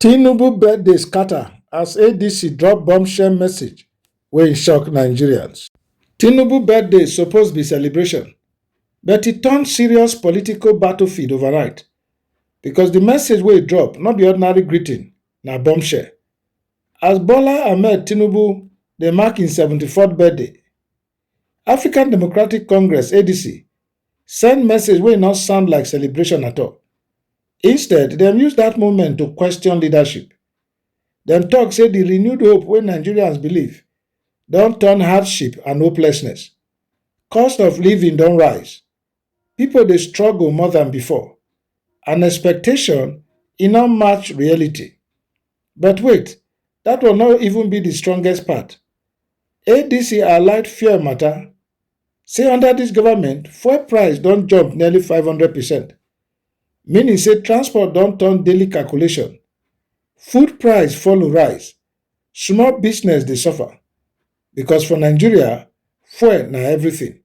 Tinubu birthday scatter as ADC drop bombshell message wey shock Nigerians. Tinubu birthday suppose be celebration but e turn serious political battlefield overnight because the message wey e drop no be ordinary greeting, na bombshell. As Bola Ahmed Tinubu dey mark im 74th birthday, African Democratic Congress, ADC, send message wey no sound like celebration at all. Instead, dem use that moment to question leadership. Dem talk say the renewed hope wey Nigerians believe don turn hardship and hopelessness. Cost of living don rise. Pipo dey struggle more than before and expectation e no match reality. But wait, dat one no even be di strongest part. ADC highlight fuel mata, say under dis government, fuel price don jump nearly five hundred percent, meaning say transport don turn daily calculation. Food price follow rise, small business dey suffer because for Nigeria, fuel na everything.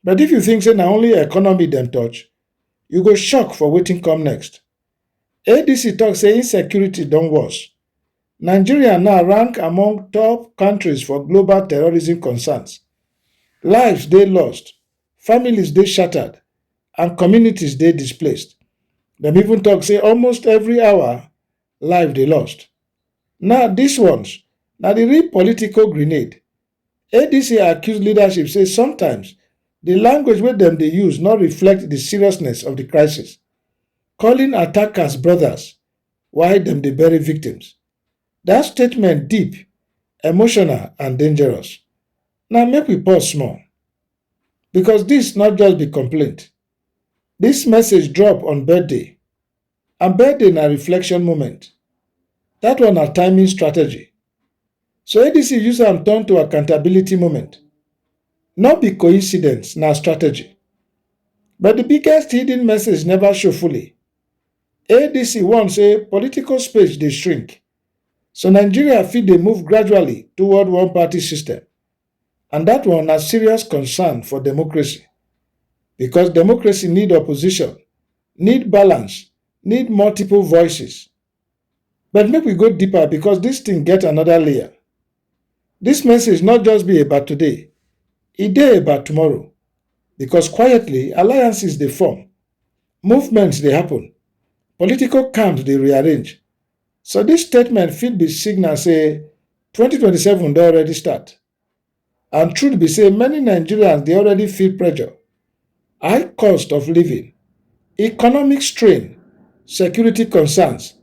But if you think say na only economy dem touch, you go shock for wetin come next. ADC talk say insecurity don worse. Nigeria now rank among top countries for global terrorism concerns. Lives dey lost, families dey shattered, and communities dey displaced. Dem even talk say almost every hour, life dey lost. Now dis ones na the real political grenade Adc accuse leadership say sometimes di language wey dem dey use no reflect di seriousness of di crisis, calling attackers brothers while dem dey bury victims. Dat statement deep, emotional and dangerous. Now make we pause small because dis no just be complaint, dis message drop on birthday. And birthday na reflection moment. That one na timing strategy. So ADC use am turn to accountability moment. No be coincidence, na strategy. But the biggest hidden message never show fully. ADC warn say political space dey shrink, so Nigeria fit dey move gradually toward one-party system And dat one na serious concern for democracy because democracy need opposition, need balance, need multiple voices. But make we go deeper because dis thing get another layer. Dis message not just be about today, e dey about tomorrow because quietly alliances dey form, movements dey happen, political camps dey rearrange So dis statement fit be signal say twenty twenty seven don already start and truth be say many Nigerians dey already feel pressure, high cost of living, economic strain, security concerns.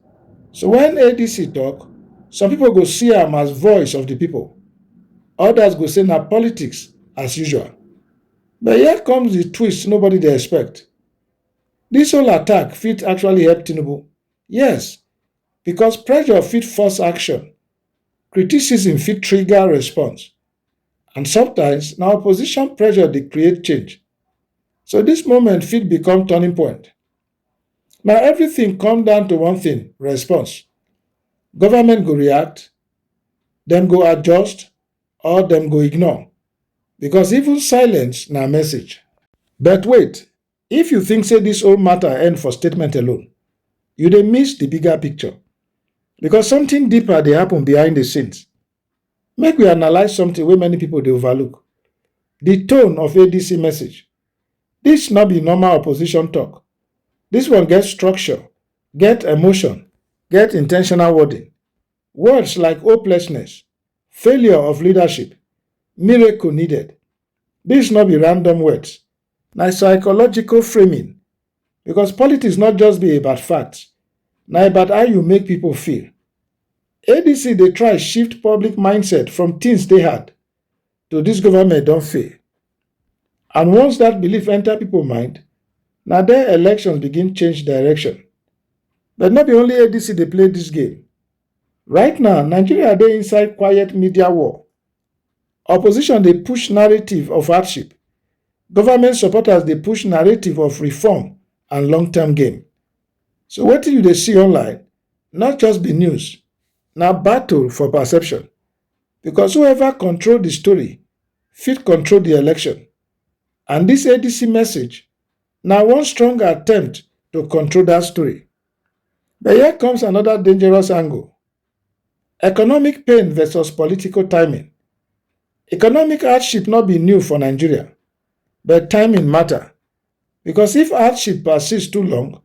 So when ADC talk, some people go see am as voice of the people, others go say na politics as usual. But here comes the twist nobody dey expect. This whole attack fit actually help Tinubu Yes, because pressure fit force action, criticism fit trigger response, and sometimes na opposition pressure dey create change. So this moment fit become turning point. Na everything come down to one thing, response. Government go react, dem go adjust or dem go ignore because even silence na message. But wait, If you think say this whole matter end for statement alone, you dey miss the bigger picture because something deeper dey happen behind the scenes. Make we analyse something wey many people dey overlook, the tone of ADC message. This no be normal opposition talk, this one get structure, get emotion, get in ten tional wording. Words like hopelessness, failure of leadership, miracle needed, this no be random words, Na psychological framing because politics not just be about facts, na about how you make people feel. ADC dey try shift public mindset from things dey hard to this government don fail. And once that belief enter people mind, na there elections begin change direction. But no be only ADC dey play this game. Right now, Nigeria dey inside quiet media war. Opposition dey push narrative of hardship, government supporters dey push narrative of reform and long term gain. So wetin you dey see online not just be news, na battle for perception because whoever control the story fit control the election and this ADC message na one strong attempt to control that story. But here comes another dangerous angle. Economic pain versus political timing. Economic hardship no be new for Nigeria, but timing matter because if hardship persist too long,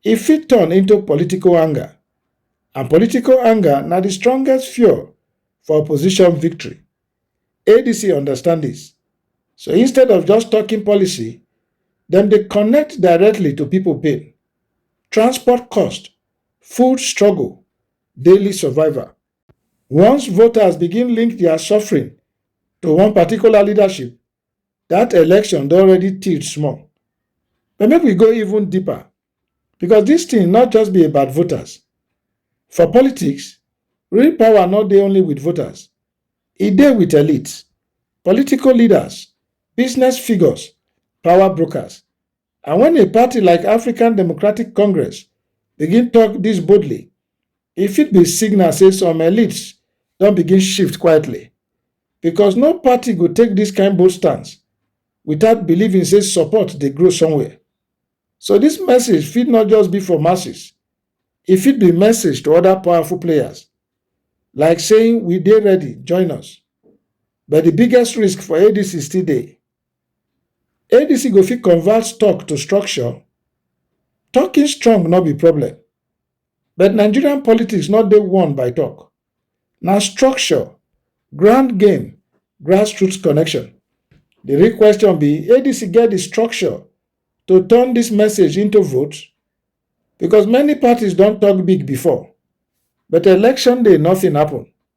e fit turn into political anger, and political anger na the strongest fuel for opposition victory. ADC understand this. So instead of just talking policy, dem dey connect directly to people pain. Transport cost food struggle, daily survival. Once voters begin link their suffering to one particular leadership, that election don already tilt small. But make we go even deeper because this thing not just be about voters. For politics, real power not dey only with voters. E dey with elites, political leaders, business figures, power brokers, And when a party like African Democratic Congress begin talk this boldly, e fit be signal say some elites don begin shift quietly because no party go take this kind bold stance without believing say support dey grow somewhere. So this message fit not just be for masses, e fit be message to other powerful players like saying we dey ready, join us. But the biggest risk for ADC still dey. ADC go fit convert stock to structure. Talking strong no be problem, but Nigerian politics no dey won by talk. Na structure, grand game, grassroots connection. Di real question be ADC get di structure to turn dis message into vote? Because many parties don talk big before but election day nothing happen.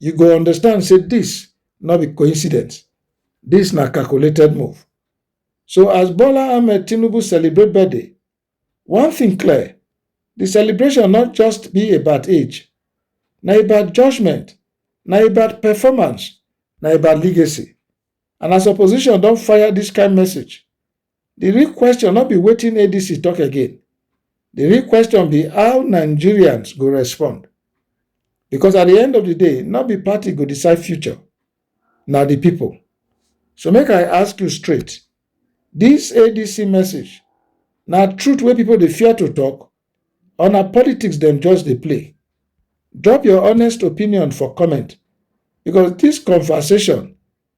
you go understand say this no be coincidence this na calculated move so as bola ahmed tinubu celebrate birthday one thing clear the celebration not just be about age na about judgment na about performance na about legacy and as opposition don fire this kind message The real question no be wetin ADC talk again. The real question be how Nigerians go respond. Because at the end of the day, not be party go decide future, na the people. So make I ask you straight, this ADC message na truth wey people dey fear to talk or na politics dem just dey play? Drop your honest opinion for comment because this conversation